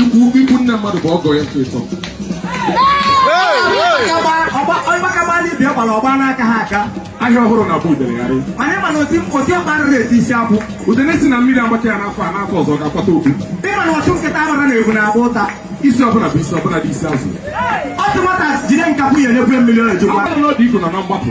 ikwu ikwu nne mmadụ bụ ọgọ ya nke ịtọ ọgba aka baa dibịa gbara ọgba n'aka ha aka ahịa ọhụrụ na-agba udele gharị anyị mana oti oti ọkpa arịrị eti isi akwụ udene sị na mmiri agbata ya n'afọ a n'afọ ọzọ ga-akwata obi ịma na ọchụ nkịta agbara na-egbu na-agba ụta isi ọbụla bụ isi ọbụla dị isi azụ ọ sị nwata jide nkapị ya nyekwa mmiri ọ eji kwọ ọ bụrụ na ọ dị iko nọ na mgbapụ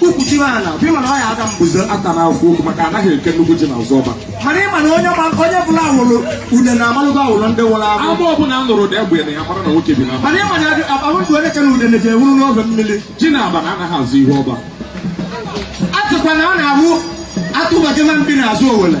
ukwuchiri ala bụ ịma na ọ ya aga mbuze ata na-afụ okwu maka anaghị eke nnukwu ji n'azụ ọba mana ịma na onye onye bụla awụrụ une na-amalụgo awụrụ ndị nwụrụ anwụ agba ọbụla a nụrụ ụda egbe na ya mara na nwoke bi na mana ịma na abụtụ onye kere une na ji enwuru n'oge mmiri ji na abana anaghị azọ ihu ọba a sịkwa na a na-awụ atụbaje na mbi n'azụ owele